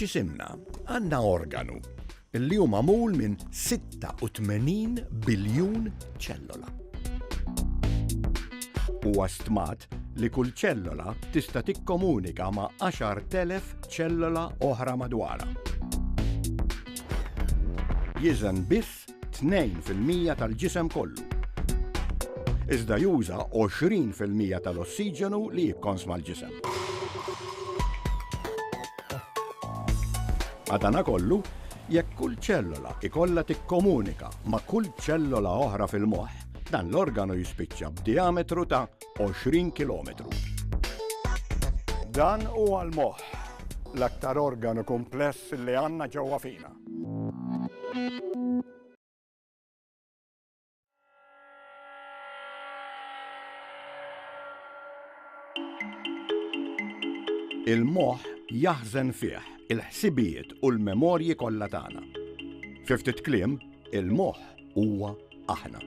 f'ġisimna għandna organu li hu magħmul minn 86 biljun ċellola. Huwa stmat li kull ċellola tista' tikkomunika ma' 10,000 ċellola oħra madwarha. jiżen biss 2 fil-mija tal-ġisem kollu, iżda juża 20 fil-mija tal-ossiġenu li jikkonsma l-ġisem. Madanakollu, jekk kull ċellola ikollha tikkomunika ma' kull ċellola oħra fil-moħħ, dan l-organu jispiċċa b'dijametru ta' 20 kilometru. Dan huwa l-moħħ, l-aktar organu kumpless li għandna ġewwa fina. Il-moħħ jaħżen fih il-ħsibijiet u l-memorji kollha tagħna. Fi ftit kliem, il-moħħ huwa aħna.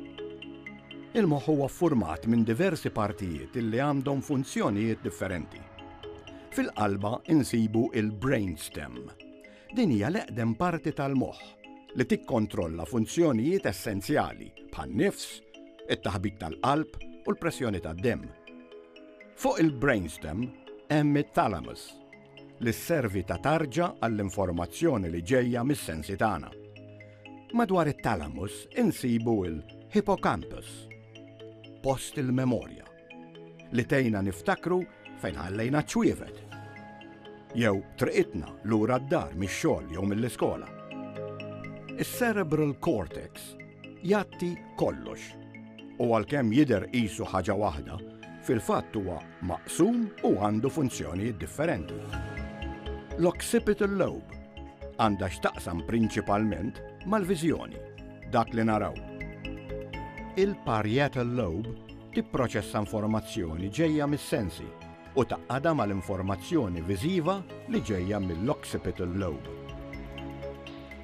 Il-moħħ huwa ffurmat minn diversi partijiet li għandhom funzjonijiet differenti. Fil-qalba insibu il-brainstem. Din hija l-eqdem parti tal-moħħ li tikkontrolla funzjonijiet essenzjali bħan-nifs, it-taħbit tal-qalb u l-pressjoni tad-demm. Fuq il-brainstem hemm it-thalamus li sservi ta' tarġa għall-informazzjoni li ġejja mis-sensi tagħna. Madwar it-thalamus insibu l-hippocampus, post il-memorja, li tgħinna niftakru fejn ħallejna ċ-ċwievet jew triqitna lura d-dar mix-xogħol jew mill-iskola. Is-cerebral cortex Jagħti kollox. U għalkemm jidher qisu ħaġa waħda, fil-fatt huwa maqsum u għandu funzjonijiet differenti. L-occipital lobe għandha x'taqsam prinċipalment mal-viżjoni, dak li naraw. Il-parietal lobe tipproċessa informazzjoni ġejja mis-sensi u tgħaqqadha mal-informazzjoni viżiva li ġejja mill-occipital lobe.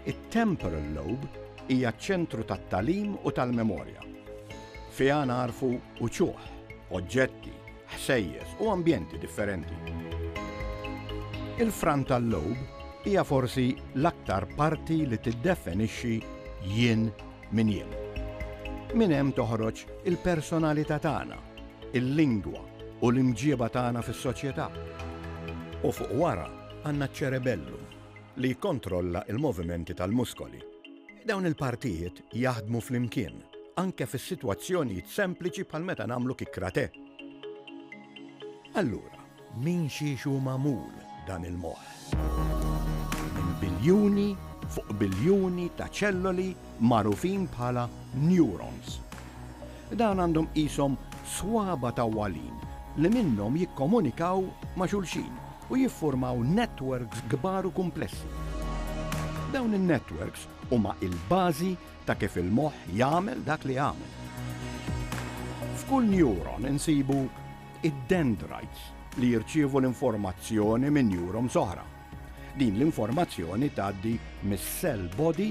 It-temporal lobe hija ċ-ċentru tat-tagħlim u tal-memorja. Fiha nagħrfu uċuħ, oġġetti, ħsejjes u ambjenti differenti. Il-frontal lobe hija forsi l-aktar parti li tiddefinixxi jien Minn jiem. Minn hemm toħroġ il-personalità tagħna, il-lingwa u l-imġieba tagħna fis-soċjetà. U fuq wara għandna ċ-ċerebellum li jikkontrolla l-movimenti tal-muskoli. Dawn il-partijiet jaħdmu flimkien anke fis-sitwazzjonijiet sempliċi bħal meta nagħmlu kick-kratè. Allura, Minn xiex hu magħmul dan il-moħħ? Minn biljuni fuq biljuni ta' ċelloli magħrufin bħala neurons. Dawn għandhom qishom swaba tawwalin li minnhom jikkomunikaw ma' xulxin u jiffurmaw netwerks kbar u kumplessi. Dawn in-netwerks huma l-bażi ta' kif il-moħħ jagħmel dak li jagħmel. F'kull neuron insibu id-dendrites li jirċievu l-informazzjoni minn neurons oħra. Din l-informazzjoni tgħaddi mis-cell body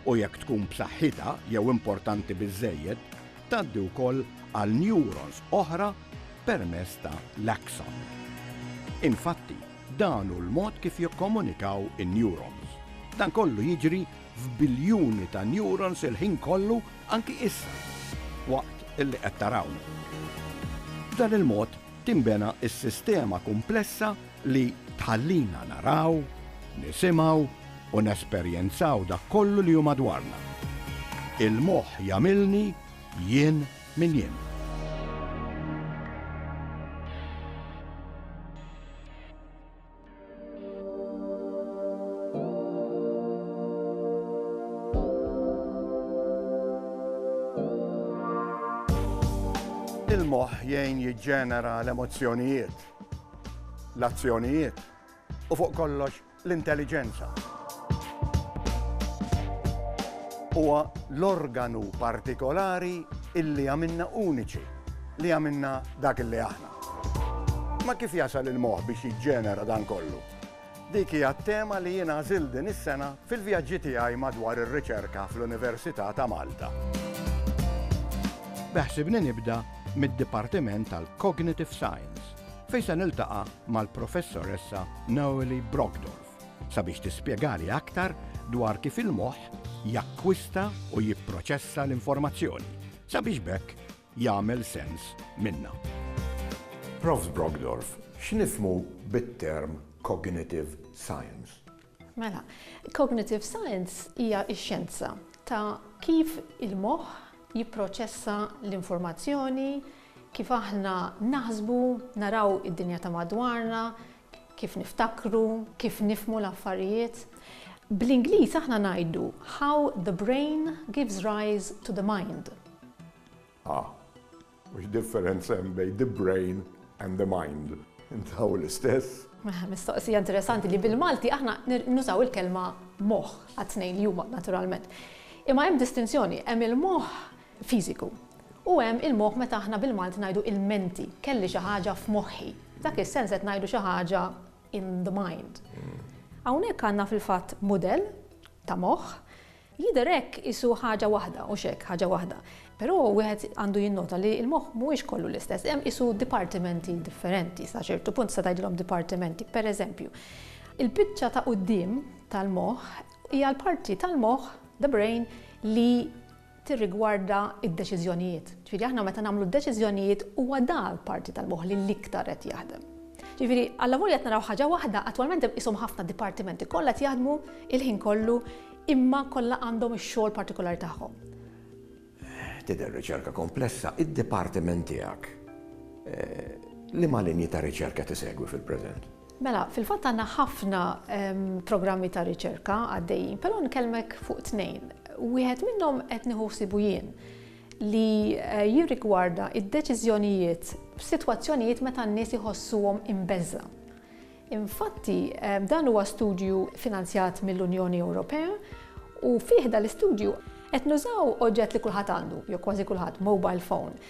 u jekk tkun b'saħħitha jew importanti biżżejjed, tgħaddi wkoll għal neurons oħra permezz ta' l-axon. Infatti, dan hu l-mod kif jikkomunikaw in-neurons. Dan kollu jiġri f'biljuni ta' neurons il-ħin kollu anki issa waqt li qed tarawna. B'dan il-mod tinbena s-sistema kumplessa li tħallina naraw, nisimgħu u nesperjenzaw dak kollu li hu madwarna. Il-moħħ jagħmilni jien min jien. Il-moħħ jgħin jiġġenera l-emozzjonijiet, l-azzjonijiet u fuq kollox l-intelliġenza. Huwa l-organu partikolari illi għamilna uniċi li għamilna dak illi aħna. Ma kif jasal il-moħħ biex jiġġenera dan kollu? Dik hija t-tema li jien għażilt din is-sena fil-vjaġġi tiegħi madwar ir-riċerka fl-Università ta' Malta. Beħsibni nibda mid-Dipartiment tal-Cognitive Science fejn se niltaqa' mal-Professoressa Noelie Brogdorf sabiex tispjegali aktar dwar kif il-moħħ jakkwista u jipproċessa l-informazzjoni sabiex b'hekk jagħmel sens minnha. Prof. Brockdorff, x'nifhmu bit-term cognitive science? Mela, cognitive science hija x-xjenza ta' kif il-moħħ jipproċessa l-informazzjoni, kif aħna naħsbu, naraw id-dinja ta' madwarna, kif niftakru, kif nifhmu l-affarijiet. Bl-Ingliż aħna ngħidu how the brain gives rise to the mind. Ah, u x'differenza hemm bejn the brain and the mind? Intaw l-istess? Mela, mistoqsija interessanti li bil-Malti aħna nużaw il-kelma moħħ għat-tnejn li huma naturalment. Imma hemm distinzjoni, hemm il-moħħ fiżiku. U hemm il-moħħ meta aħna bil-Malti ngħidu il-menti, kelli xi ħaġa f'moħħi. F'dak is-sens qed ngħidu xi ħaġa in the mind. Hawnhekk għandna fil-fatt mudell ta' moħħ, jidher hekk qisu ħaġa waħda, hux hekk, ħaġa waħda. Però wieħed għandu jinnota li l-moħħ mhuwiex kollu l-istess, hemm qisu dipartimenti differenti, sa ċertu punt tista' tgħidilhom dipartimenti. Pereżempju, il-biċċa ta' quddiem tal-moħħ hija l-parti tal-moħħ, the brain, li tirrigwarda d-deċiżjonijiet. Ġifieri aħna meta nagħmlu d-deċiżjonijiet huwa dak l-parti tal-moħħ li l-iktar qed jaħdem. Ġifieri allavolja qed naraw ħaġa waħda, attwalment hemm qishom ħafna dipartimenti kollha qed jaħdmu l-ħin kollu imma kollha għandhom ix-xogħol partikolari tagħhom. Tidher riċerka komplessa, id-dipartiment tiegħek liema linji ta' riċerka qed isegwi fil-preżent? Mela, fil-fatt għandna ħafna programmi ta' riċerka għaddejjin, però nkellmek fuq tnejn. Wieħed minnhom qed nieħu ħsibu jien li eh, jirrigwarda id-deċiżjonijiet f'sitwazzjonijiet meta n-nies iħossuhom imbeżla. Infatti, eh, dan huwa studju finanzjat mill-Unjoni Ewropea u fih l-istudju qed nużaw oġġett li kulħadd għandu, jew kważi kulħadd, mobile phone,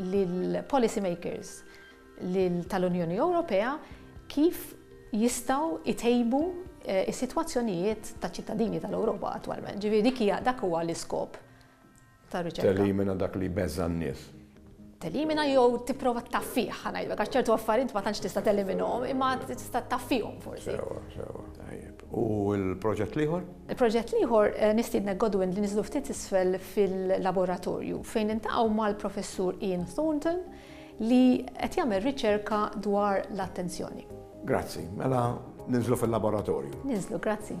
lill-policy makers tal-Unjoni Ewropea kif jistgħu jtejbu s-sitwazzjonijiet taċ-ċittadini tal-Ewropa attwalment. Ġifieri dik hija dak huwa l-iskop tar-riċerka. Telimina dak li jbeżża' n-nies. Telimina jew tipprova ttaffih, ħa ngħidlek, għax ċertu affarijiet ma tantx tista' teliminhom, imma tista' ttaffihom forsi. Sewwa, sewwa, tajjeb. U l-proġett l-ieħor? Il-proġett l-ieħor, nistiednek Godwin li niżlu ftit isfel fil-laboratorju fejn niltaqgħu mal-Professur Ian Thornton li qed jagħmel riċerka dwar l-attenzjoni. Grazzi. Mela ninżlu fil-laboratorju. Ninżlu, grazzi.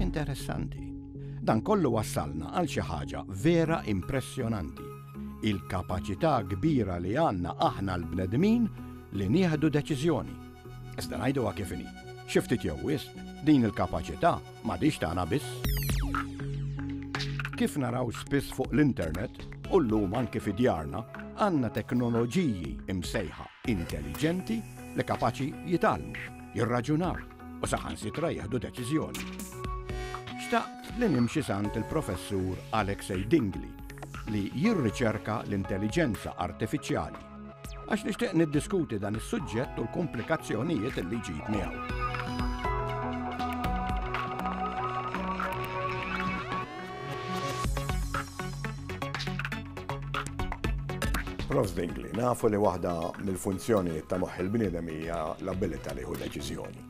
Interessanti. Dan kollu wassalna għal xi ħaġa vera impressjonanti. Il-kapaċità kbira li għandna aħna l-bnedmin li nieħdu deċiżjoni. Iżda ngħiduha kif inhi. Xi ftit jew wisq, din il-kapaċità m'għadix tagħna biss. Kif naraw spiss fuq l-internet u llum anke fi djarna, għandna teknoloġiji imsejħa intelligenti li kapaċi jitalmu, jirraġunaw, u saħansitra jieħdu deċiżjoni. Xtaqt li nimxi sant il-professur Alexei Dingli li jirriċerka l-intelligenza artifiċjali għax nixtieq niddiskuti dan is-suġġett u l-komplikazzjonijiet li ġib miegħu. Prof. Zwingli, nafu li waħda mill-funzjonijiet ta' moħħ il-bniedem hija l-abilità li jieħu deċiżjoni.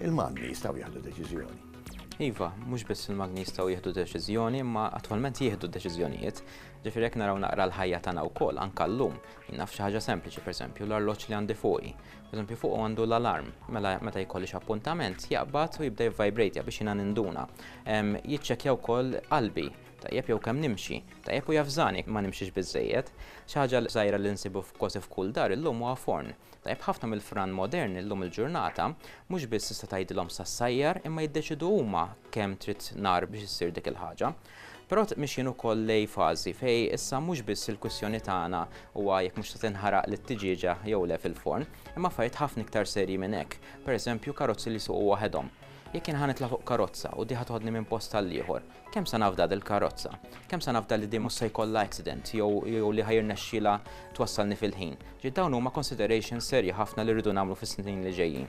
Il-magni jistgħu jieħdu deċiżjoni. Iva, mhux biss il-magni jistgħu jieħdu deċiżjoni, imma attwalment jieħdu deċiżjonijiet. Ġifieri jekk naraw naqra l-ħajja tagħna wkoll anke llum. Naf xi ħaġa sempliċi, pereżempju, l-arloġġ li għandi fuqi. Pereżempju fuqu għandu l-alarm, mela meta jkollix appuntament jaqbad u jibda jivvibrate biex jiena ninduna. Jiċċekkja wkoll qalbi, tajjeb jew kemm nimxi, tajjeb u javżani ma nimxix biżżejjed. Xi ħaġa żgħira li nsibu f'kważi f'kull dar illum huwa forn. Tajjeb ħafna mill-fran moderni llum il-ġurnata mhux biss tista' tgħidilhom sa ssajjar imma jiddeċiedu huma kemm trid nar biex issir dik il-ħaġa. Però mixjin ukoll lejn fażi fejn issa mhux biss il-kwistjoni tagħna huwa jekk mhux se tinħaraq l-tiġieġa jew le fil-forn, imma affarijiet ħafna iktar serji minn hekk, pereżempju karozzi li jsuqu waħedhom. Jekk jien ħa nitla' fuq karozza u di ħa toħodni minn post għall-ieħor, kemm se nafda dil-karozza? Kemm se nafda li di mhux se jkollha accident jew li ħa jirnexxilha twassalni fil-ħin? Ġiet dawn huma considerations serji ħafna li rridu nagħmlu fis-snin li ġejjin.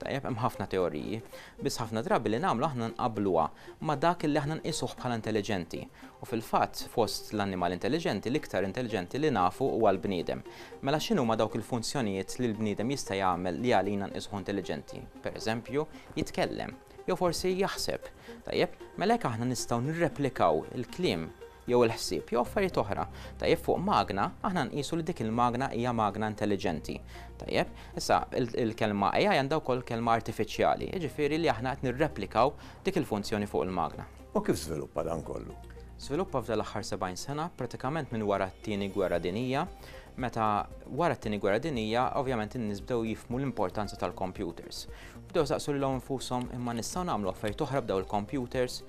Tajjeb, hemm ħafna teoriji, biss ħafna drabi li nagħmlu aħna nqabbluha ma' dak li aħna nqisuh bħala intelliġenti. U fil-fatt, fost l-annimali intelliġenti, l-iktar intelliġenti li nafu huwa l-bniedem. Mela x'inhuma dawk il-funzjonijiet li l-bniedem jista' jagħmel li għalina nqisuh intelliġenti? Pereżempju, jitkellem. Jew forsi jaħseb. Tajjeb, mela jekk aħna nistgħu nirreplikaw il-kliem jew il-ħsieb, jew affarijiet oħra, tajjeb, fuq magna, aħna nqisu li dik il-magna hija magna intelliġenti. Tajjeb, issa il-kelma AI għandha wkoll kelma artifiċjali, jiġifieri li aħna qed nirreplikaw dik il-funzjoni fuq il-magna. U kif żviluppa dan kollu? Żviluppa f'dan l-aħħar 70 sena, pratikament minn wara t-Tieni Gwerra Dinjija, meta wara t-Tieni Gwerra Dinjija, ovvjament in-nies bdew jifhmu l-importanza tal-kompjuters. Bdew saqsu lilhom infushom imma nistgħu nagħmlu affarijiet oħra b'daw il-kompjuters?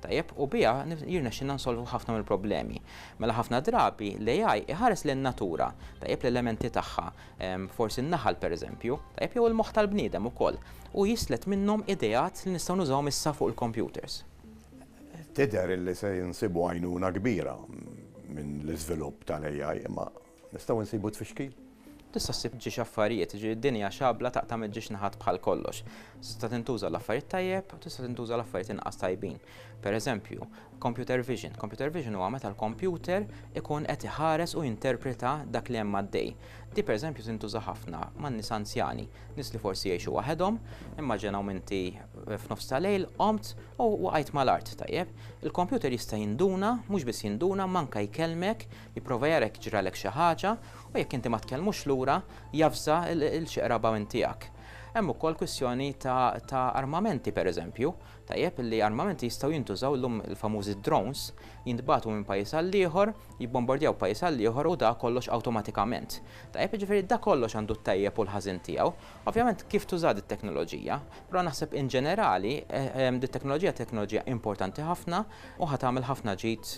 tajjeb u biha jirnexxilna nsolvu ħafna mill-problemi. Mela ħafna drabi l-AI iħares lejn natura, tajjeb l-elementi tagħha, forsi n-naħal pereżempju, tajjeb jew il-moħħ tal-bniedem ukoll, u jislet minnhom ideat li nistgħu nużawhom issa fuq il-kompjuters. Tidher li se nsibu għajnuna kbira minn l-iżvilupp tal-AI, imma Nistgħu nsibu t-tfixkil? Tista' ssib ġiex affarijiet, jiġifieri din hija xabla taqta' mill-ġiex naħat bħal kollox. Tista' tintuża għal affarijiet tajjeb u tista' tintuża għal affarijiet inqas tajbin. Per eżempju, computer vision. Computer vision huwa meta l-kompjuter ikun qed iħares u jinterpreta dak li hemm għaddej. Din per eżempju tintuża ħafna man-nies anzjani, nies li forsi jgħixu waħedhom, immaġinaw inti f'nofs ta' lejl qomt u waqajt mal-art, tajjeb. Il-kompjuter jista' jinduna, mhux biss jinduna, imma anke jkellmek Jipprova jara jekk ġralek xi ħaġa u jekk inti ma tkellmux lura javża lil xi qraba minn tiegħek. Hemm ukoll kwistjoni ta' armamenti pereżempju, tajjeb li armamenti jistgħu jintużaw llum il-famużi drones jintbagħtu minn pajjiż għal ieħor, jibbombordjaw pajjiż għal ieħor u da kollox awtomatikament. Tajjeb jiġifieri da kollox għandu t-tajjeb u l-ħażin tiegħu Ovvjament kif tuża dit-teknoloġija, però naħseb in ġenerali dit-teknoloġija hija teknoloġija importanti ħafna u ħa tagħmel ħafna ġid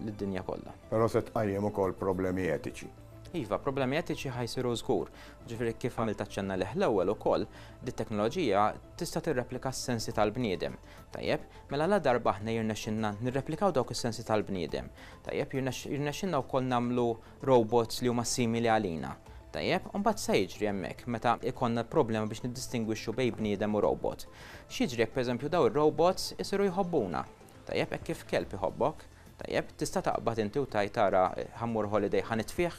lid-dinja kollha. Però se tqajjem ukoll problemi etiċi. Iva, problemi etiċi ħa jsiru żgur. Jiġifieri kif għamilt aċċenn għalih l-ewwel ukoll, dit-teknoloġija tista' tirreplika s-sensi tal-bniedem. Tajjeb, mela ladarba aħna jirnexxilna nirreplikaw dawk is-sensi tal-bniedem, tajjeb, jirnexxilna wkoll nagħmlu robots li huma simili għalina. Tajjeb, u mbagħad x'se jiġri hemmhekk meta jkollna problema biex niddistingwixxu bejn bniedem u robot? X'jiġri jekk pereżempju dawn ir-robots isiru jħobbuna? Tajjeb, hekk kif kelb iħobbok, tajjeb, tista' taqbad inti u tgħid ara ħa mmur holiday ħa nitfih?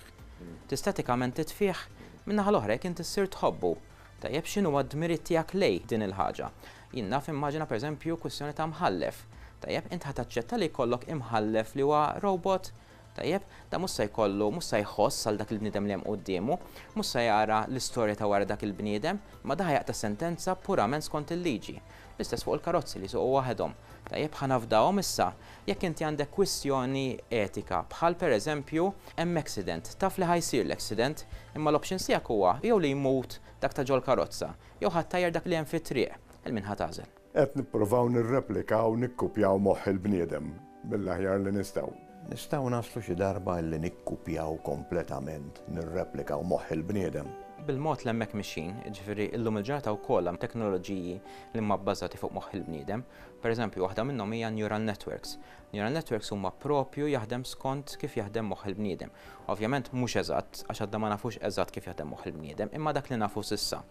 Tista' etikament titfih? Min-naħa l-oħra jekk inti ssir tħobbu, tajjeb, x'inhuwa d-dmirijiet tiegħek lejh din il-ħaġa? Jien naf immaġina pereżempju kwistjoni ta' mħallef. Tajjeb, int ħa taċċetta li jkollok imħallef li huwa robot? Tajjeb, dan mhux se jkollu, mhux se jħoss għal dak il-bniedem li hemm quddiemu, mhux se jara l-istorja ta' wara dak il-bniedem, imma dan ħa jaqta' sentenza purament skont il-liġi. L-istess fuq il-karozzi li jsuqu waħedhom. Tajjeb, ħa nafdahom issa. Jekk inti għandek kwistjoni etika, bħal pereżempju, hemm accident, taf li ħa jsir l-accident, imma l-options tiegħek huwa jew li jmut dak ta' ġol-karozza, jew ħa ttajjar dak li hemm fit-triq, il-min ħa tagħżel? Qed nippruvaw nirreplikaw u nikkupjaw moħħ il-bniedem mill-aħjar li nistgħu. Nistgħu naslu xi darba illi nikkupjaw kompletament, nirreplikaw moħħ il-bniedem? Bil-mod li hemmhekk mixjin, jiġifieri llum il-ġurnata wkoll hemm teknoloġiji li huma bbażati fuq moħħ il-bniedem. Per eżempju, waħda minnhom hija n-neural networks. Neural networks huma proprju jaħdem skont kif jaħdem moħħ il-bniedem. Ovvjament mhux eżatt, għax għadna ma nafux eżatt kif jaħdem moħħ il-bniedem, imma dak li nafu s'issa.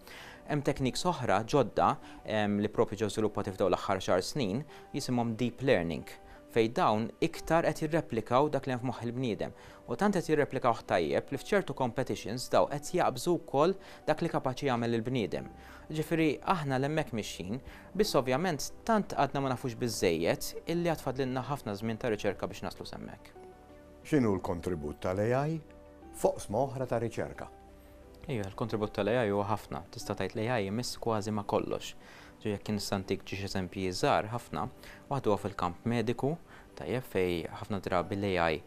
Hemm techniques oħra ġodda li proprju ġew żviluppati f'dawn l-aħħar xahar snin, jisimhom deep learning, fejn dawn iktar qed jirreplikaw dak li hemm f'moħħ il-bniedem. U tant qed jirreplikawh tajjeb li f'ċertu competitions dawn qed jaqbżu wkoll dak li kapaċi jagħmel il-bniedem. Jiġifieri aħna 'l hemmhekk mixjin, biss ovvjament tant għadna ma nafux biżżejjed illi għad fadlilna ħafna żmien ta' riċerka biex naslu s'hemmhekk. X'inhu l-kontribut tal-AI f'oqsma oħra ta' riċerka? Iva, l-kontribut tal-AI huwa ħafna. Tista' tgħid l-AI imiss kważi ma' kollox. Ġifieri jekk jien nista' ntik ġiex eżempji żgħar ħafna, waħed huwa fil-kamp mediku, tajjeb, fejn ħafna drabi l-AI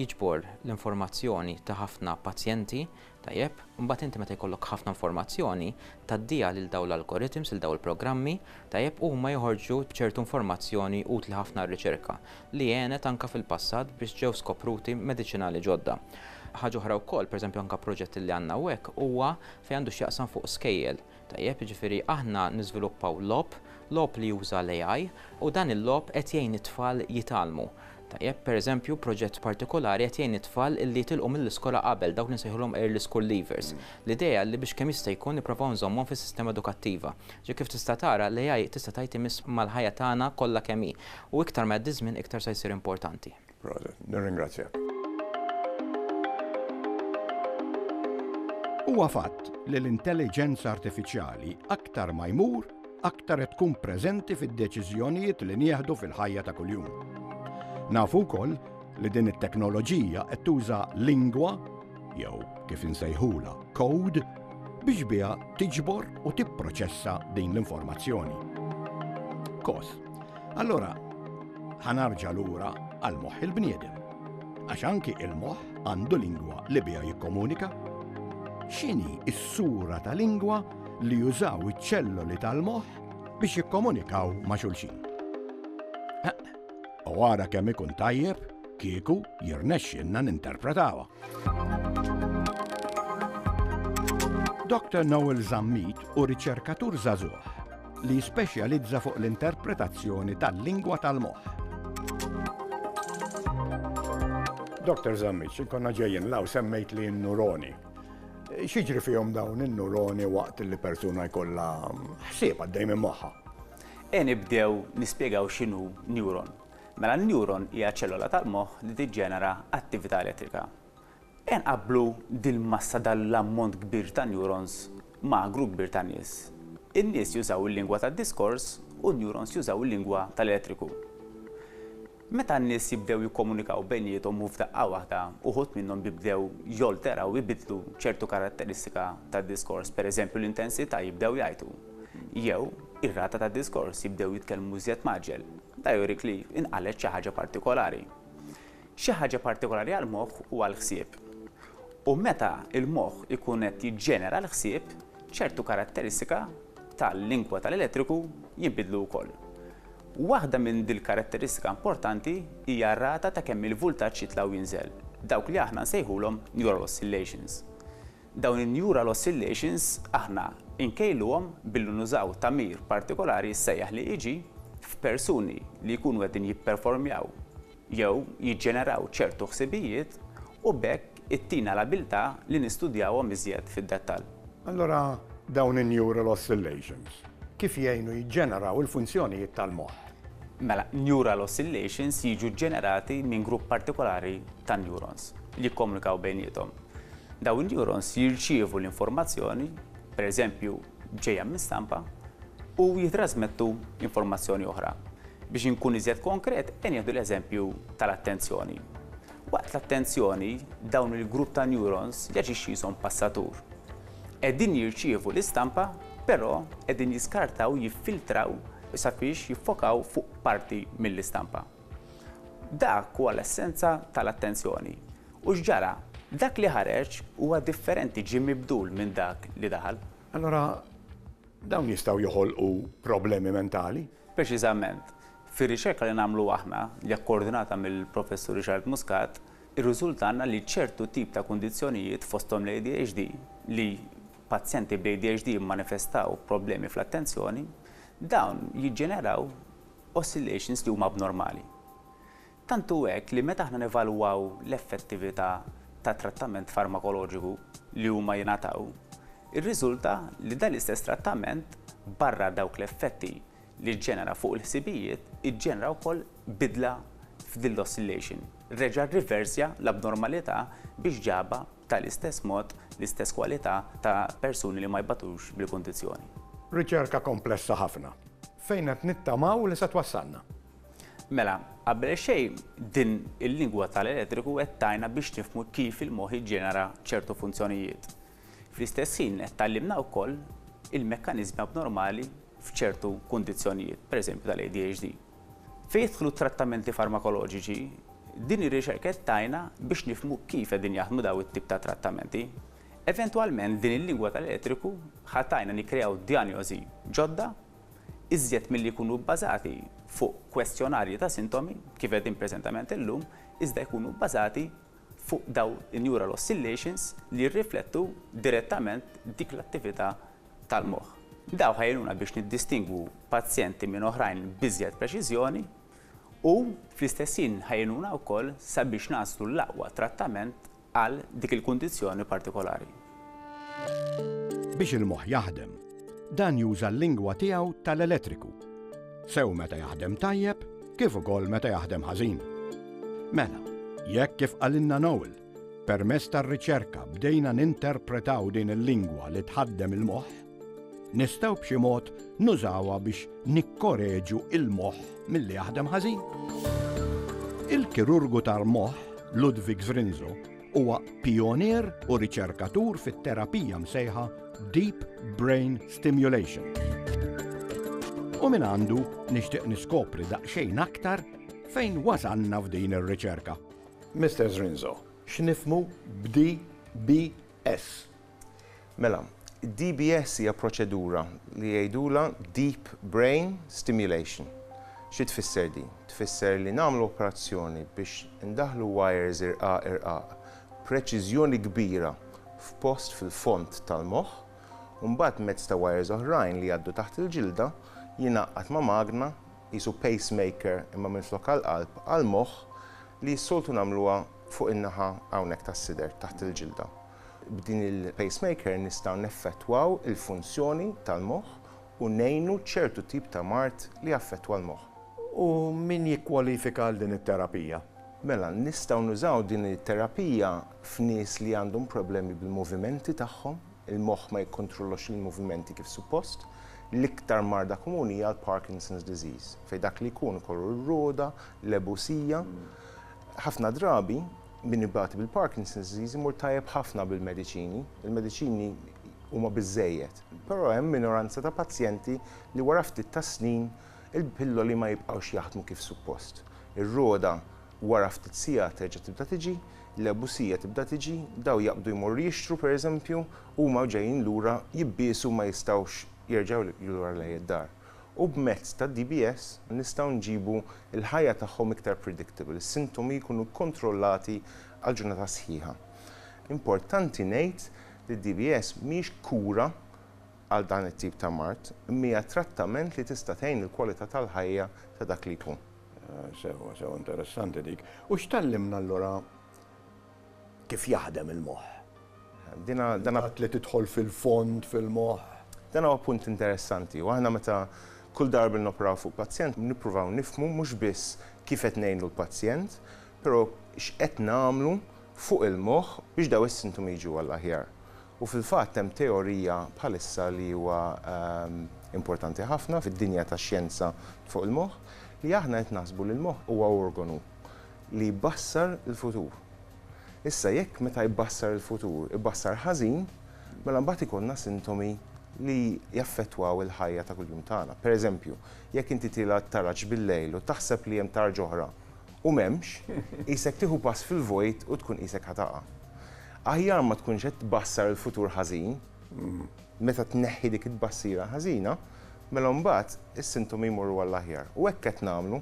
jiġbor l-informazzjoni ta' ħafna pazjenti, tajjeb, imbagħad inti meta jkollok ħafna informazzjoni tgħaddiha lil dawn l-algorithms, lil dawn il-programmi, tajjeb, u huma joħorġu b'ċertu informazzjoni utli ħafna għar-riċerka. li għenet anke fil-passat biex ġew skopruti mediċinali ġodda. Ħaġa oħra wkoll, pereżempju anke proġett li għandna hawnhekk huwa fejn għandu x'jaqsam fuq skejjel, tajjeb, jiġifieri aħna niżviluppaw logħob, logħob li juża l-AI u dan il-logħob qed jgħin it-tfal jitgħallmu, tajjeb, pereżempju proġett partikolari qed jgħin it-tfal li jitilqu mill-iskola qabel, dawk li nsejħulhom early school leavers. L-idea li biex kemm jista' jkun nipprovaw nżommhom fis-sistema edukattiva. Ġifieri kif tista' tara l-AI tista' tgħid imiss mal-ħajja tagħna kollha kemm hi. U iktar ma jgħaddi ż-żmien iktar se jsir importanti. Proset, nirringrazzjak. Huwa fatt li l-intelliġenza artifiċjali aktar ma jmur aktar qed tkun preżenti fid-deċiżjonijiet li nieħdu fil-ħajja ta' kuljum. Nafu wkoll li din it-teknoloġija qed tuża lingwa, jew kif insejħulha code, biex biha tiġbor u tipproċessa din l-informazzjoni. Kos. Allora, ħanarġa lura għal moħħ il-bniedem. Għax anki il-moħħ għandu lingwa li biha jikkomunika. X'inhi s-sura ta' lingwa li jużaw iċ-ċelloli tal-moħħ biex jikkomunikaw ma' xulxin? U għara kemm ikun tajjeb kieku jirnexxinna ninterpretawha. Dr. Noel Zammit u riċerkatur zazuħ li jispeċjalizza fuq l-interpretazzjoni tal-lingwa tal-moħħ. Dr. Zammiċ, konna ġejjin law semmejt li n-nuroni. Xiġri fihom dawn in-nuroni waqt li persuna jkollha ħsieb għaddej minn moħħa? E nibdew nispjegaw x'inhu neuron. Mela n-neuron hija ċellola tal-moħħ li tiġġenera attività elettrika. Ejja nqabblu dil-massa dal-ammont kbir ta' neurons ma' gru kbir ta' nies. In-nies jużaw il-lingwa tad-diskors u n-neurons jużaw il-lingwa tal-elettriku. Meta n-nies jibdew jikkomunikaw bejniethom u f'daqqa waħda uħud minnhom jibdew jolteraw, ibiddlu, ċertu karatteristika tad-diskors, pereżempju l-intensità, jibdew jgħajtu, jew ir-rata tad-diskors, jibdew jitkellmu iżjed mgħaġġel, da jurik li inqalgħet xi ħaġa partikolari. xi ħaġa partikolari għall-moħħ u għall-ħsieb. U meta l-moħħ ikun qed jiġġenera l-ħsieb, ċertu karatteristika tal-lingwa tal-elettriku jinbidlu wkoll. Waħda minn dil-karatteristika importanti hija r-rata ta' kemm il-vultaġġ jitla' u jinżel, dawk li aħna nsejħulhom neural oscillations. Dawn in-neural oscillations aħna nkejluhom billi nużaw tagħmir partikolari jissejjaħ l-EEG f'persuni li jkunu qegħdin jipperformjaw jew jiġġeneraw ċertu ħsibijiet u b'hekk ittina l-abiltà li nistudjawhom iżjed fid-dettall. Allura dawn in-neural oscillations kif jgħinu jiġġeneraw il-funzjonijiet tal-moħħ? Mela, neural oscillations jiġu ġġenerati minn grupp partikolari ta' neurons li jikkomunikaw bejniethom. Dawn in-neurons jirċievu l-informazzjoni, pereżempju, ġejja minn stampa u jittrasmettu informazzjoni oħra. Biex inkun iżjed konkret, qed nieħdu l-eżempju tal-attenzjoni. Waqt l-attenzjoni, dawn il-grupp ta' neurons jaġixxi jishom passatur. Qegħdin jirċievu l-istampa, però qegħdin jiskartaw, jiffiltraw sabiex jiffokaw fuq parti mill-istampa. Dak huwa l-essenza tal-attenzjoni. U x'ġara? Dak li ħareġ huwa differenti, ġie mibdul minn dak li daħal. Allura dawn jistgħu joħolqu problemi mentali? Preċiżament. Fir-riċerka li nagħmlu aħna, li hija kkoordinata mill-Professur Richard Muscat, irriżultalna li ċertu tip ta' kundizzjonijiet, fosthom l-ADHD, li pazjenti bl-ADHD jimmanifestaw problemi fl-attenzjoni, dawn jiġġeneraw oscillations li huma abnormali. Tant hu hekk li meta aħna nevalwaw l-effettività ta' trattament farmakoloġiku li huma jingħataw, irriżulta li dan l-istess trattament, barra dawk l-effetti li ġġenera fuq il-ħsibijiet, iġġenera wkoll bidla f'din l-oscillation, reġa' rriversja l-abnormalità biex ġabha b'tal-istess mod l-istess kwalità ta' persuni li ma jbatux bil-kundizzjoni. Riċerka komplessa ħafna, fejn qed nittamaw li se twassalna. Mela, qabel xejn din il-lingwa tal-elettriku qed tgħinna biex nifhmu kif il-moħħ jiġġenera ċertu funzjonijiet. Fl-istess ħin qed tgħallimna wkoll il-mekkaniżmi abnormali f'ċertu kundizzjonijiet, pereżempju tal-ADHD. Fejn jidħlu t-trattamenti farmakoloġiċi, din ir-riċerka qed tgħinna biex nifhmu kif qegħdin jaħdmu dawn it-tip ta' trattamenti. Eventwalment din il-lingwa tal-elettriku ħa tgħinna nikkreaw djanjosi ġodda iżjed milli jkunu bbażati fuq kwestjonarji ta' sintomi, kif qegħdin preżentament illum, iżda jkunu bbażati fuq dawn in-neural oscillations li jirriflettu direttament dik l-attività tal-moħħ. Dawn ħa jgħinuna biex niddistingwu pazjenti minn oħrajn b'iżjed preċiżjoni u, fl-istess ħin, ħa jgħinuna wkoll sabiex naslu l-aqwa trattament għal dik il-kundizzjoni partikolari. Biex il-moħħ jaħdem, dan juża l-lingwa tiegħu tal-elettriku, sew meta jaħdem tajjeb kif ukoll meta jaħdem ħażin. Mela, jekk kif qalilna Noel, permess tar-riċerka bdejna ninterpretaw din il-lingwa li tħaddem il-moħħ, Nistgħu b'xi mod nużawha biex nikkoreġu l-moħħ milli jaħdem ħażin. Il-kirurgu tal-moħħ Ludwig Zrinzo huwa pionier u riċerkatur fit-terapija msejħa Deep Brain Stimulation. U minn għandu nixtieq niskopri daqsxejn aktar fejn wasanna f'din ir-riċerka. Mr. Zrinzo, x'nifmu b'DBS? Mela, id-DBS hija proċedura li jgħidulha deep brain stimulation. Xi tfisser din? Tfisser li nagħmlu operazzjoni biex indaħħlu wires irqaq irqaq b'preċiżjoni kbira f'post fil-fond tal-moħħ u mbagħad mezz ta' wires oħrajn li jgħaddu taħt il-ġilda jingħaqqad ma' magna qisu pacemaker imma minflok għall-qalb għall-moħħ li s-soltu nagħmluha fuq in-naħa hawnhekk tas-sider taħt il-ġilda. B'din il-pacemaker nistgħu neffettwaw il-funzjoni tal-moħħ u ngħinu ċertu tip ta' mard li jaffettwa l-moħħ. U min jikkwalifika għal din it-terapija? Mela, nistgħu nużaw din it-terapija f'nies li għandhom problemi bil-movimenti tagħhom, il-moħħ ma jikkontrollax il-movimenti kif suppost. L-iktar marda komuni hija l-Parkinson's disease, fejn dak li jkun ikollu r-roda, l-ebusija. Ħafna drabi Min ibati bil-Parkinson's disease imur tajjeb ħafna bil-mediċini, il-mediċini huma biżżejjed. Però hemm minoranza ta' pazjenti li wara ftit tas-snin il-pilloli ma jibqgħux jaħdmu kif suppost. Ir-rogħda wara ftit sigħat terġa' tibda tiġi, l-ebusija tibda tiġi, dawn jaqbdu jmorru jixtru pereżempju, huma ġejjin lura jibbiesu ma jistgħux jerġgħu lura lejn id-dar. u b'mezz tad-DBS nistgħu nġibu l-ħajja tagħhom iktar predictable, is-sintomi jkunu kkontrollati għal ġurnata sħiħa. Importanti ngħid li d-DBS mhijiex kura għal dan it-tip ta' mard, imma hija trattament li tista' tgħin il-kwalità tal-ħajja ta' dak li jkun. Sewwa, sewwa interessanti dik. U x'tgħallimna allura? kif jaħdem il-moħħ. Il-fatt li tidħol fil-fond fil-moħħ. Dan huwa punt interessanti u aħna meta kull darba li noperaw fuq pazjent nippruvaw nifhmu mhux biss kif qed ngħinu l-pazjent, però x'qed nagħmlu fuq il-moħħ biex dawn is-sintomi jiġu għall-aħjar. U fil-fatt hemm teorija bħalissa li huwa importanti ħafna fid-dinja tax-xjenza fuq il-moħħ li aħna qed naħsbu li l-moħħ huwa organu. li jbassar il-futur. Issa jekk meta jbassar il-futur ibassar ħażin, mela mbagħad ikollna sintomi li jaffettwaw il-ħajja ta' kuljum tagħna. Pereżempju, jekk inti tilgħa t-taraġ bil-lejl u taħseb li hemm tarġa oħra u m'hemmx, qisek tieħu pass fil-vojt u tkun qisek ħa taqa'. Aħjar ma tkunx qed tbassar il-futur ħażin, meta tneħħi dik it-tbassira ħażina, mela mbagħad is-sintomi jmorru għall-aħjar. U hekk qed nagħmlu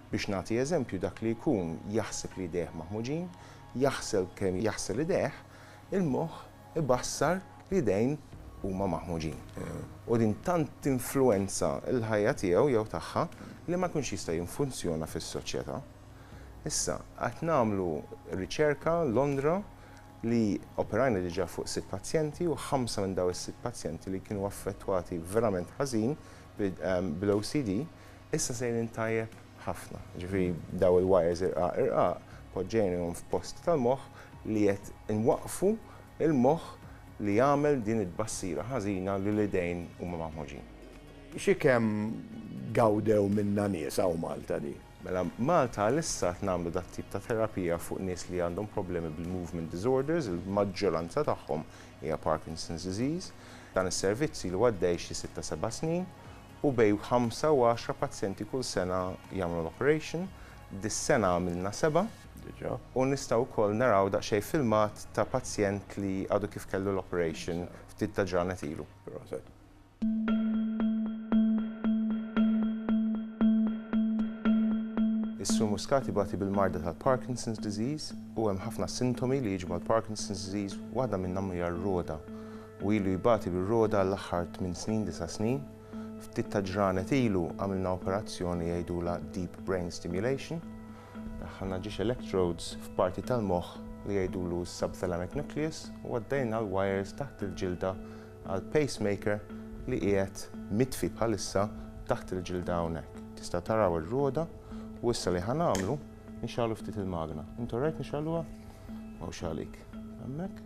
Biex nagħti eżempju, dak li jkun jaħseb li jdejh maħmuġin, jaħsel kemm jaħsel idejh, il-moħħ ibassar li jdejn huma maħmuġin. U din tant tinfluwenza l-ħajja tiegħu jew tagħha li ma jkunx jista' jinfunzjona fis-soċjetà. Issa, qed nagħmlu riċerka Londra li operajna diġà fuq sitt pazjenti u ħamsa minn dawn is-sitt pazjenti li kienu affettwati verament ħażin bl-OCD, Issa sejrin tajjeb ħafna. Ġifieri dawn il-wires irqaq irqaq poġġejnihom f'post tal-moħħ li qed inwaqqfu l-moħħ li jagħmel din it-tbassira ħażina li l-idejn huma maħmuġin. Xi kemm gawdew minnha nies hawn Malta din? Mela Malta għalissa qed nagħmlu dat-tip ta' terapija fuq nies li għandhom problemi bil-movement disorders, il-maġġoranza tagħhom hija Parkinson's disease. Dan is-servizz ilu għaddej xi sitta seba' snin u bejn ħamsa u għaxra pazjenti kull sena jagħmlu l-operation, dis-sena għamilna seba', u nistgħu wkoll naraw daqsxejn filmat ta' pazjent li għadu kif kellu l-operation ftit ta' ġranet ilu. Is-Sur Muscat ibati bil-marda tal-Parkinson's disease u hemm ħafna sintomi li jiġu mal-Parkinson's disease, waħda minnhom hija r-rogħda. u ilu jbati bir-roda għall-aħħar tmien snin, disa' snin. Ftit ta' ġranet ilu għamilna operazzjoni jgħidulha deep brain stimulation. Daħħalna ġiex electrodes f'parti tal-moħħ li jgħidulu s-subthalamic nucleus u għaddejna l-wires taħt il-ġilda għal pacemaker li qiegħed mitfi bħalissa taħt il-ġilda hawnhekk. Tistgħu taraw ir-roda u issa li ħa nagħmlu nixgħalu ftit il-magna. Int orajt nixgħaluha? Mhux għalik. Hemmhekk.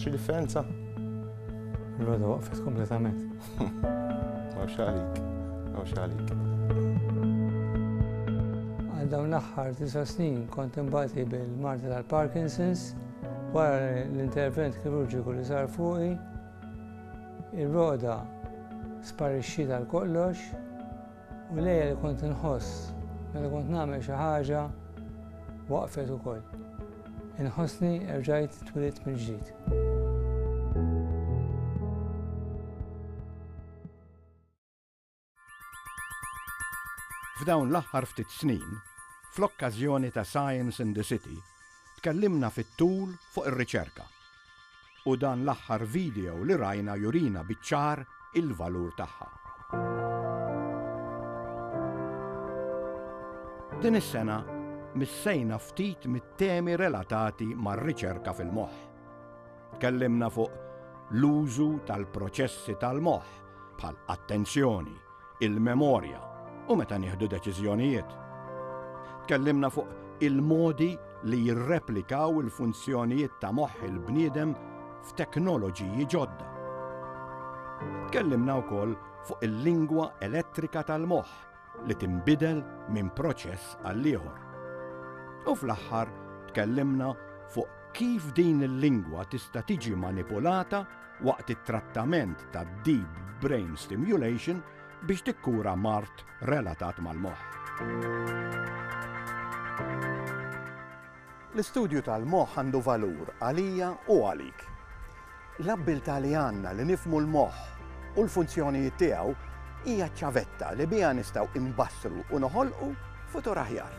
Xi differenza? L-għoda waqfet kompletament. Għaw xalik, għaw xalik. Għal dawn l-axħar tisa snin kont imbati bil-marti tal-Parkinson's Wara l-intervent kirurġiku li sar fuqi, ir-roqda sparixxiet għal kollox u l-għeja li kont inħoss meta kont nagħmel xi ħaġa waqfet ukoll. Inħossni erġajt twilit mill-ġdid. F'dawn l-aħħar ftit snin, fl-okkażjoni ta' Science in the City, tkellimna fit-tul fuq ir-riċerka. U dan l-aħħar video li rajna jurina biċ-ċar il-valur tagħha. Din is-sena missejna ftit mit-temi relatati mar-riċerka fil-moħħ. Tkellimna fuq l-użu tal-proċessi tal-moħħ bħal attenzjoni, il-memorja u meta nieħdu deċiżjonijiet. Tkellimna fuq il-modi li jirreplikaw il-funzjonijiet ta' moħħ il-bniedem f'teknoloġiji ġodda. Tkellimna wkoll fuq il-lingwa elettrika tal-moħħ li tinbidel minn proċess għall-ieħor. U fl-aħħar tkellimna fuq kif din il-lingwa tista' tiġi manipulata waqt it-trattament ta' deep brain stimulation biex tikkura mart relatat mal-moħħ. L-istudju tal-moħħ għandu valur għalija u għalik. L-abbiltà li għandna li nifhmu l-moħħ u l-funzjonijiet tiegħu hija ċ-ċavetta li biha nistgħu inbassru u noħolqu futur aħjar.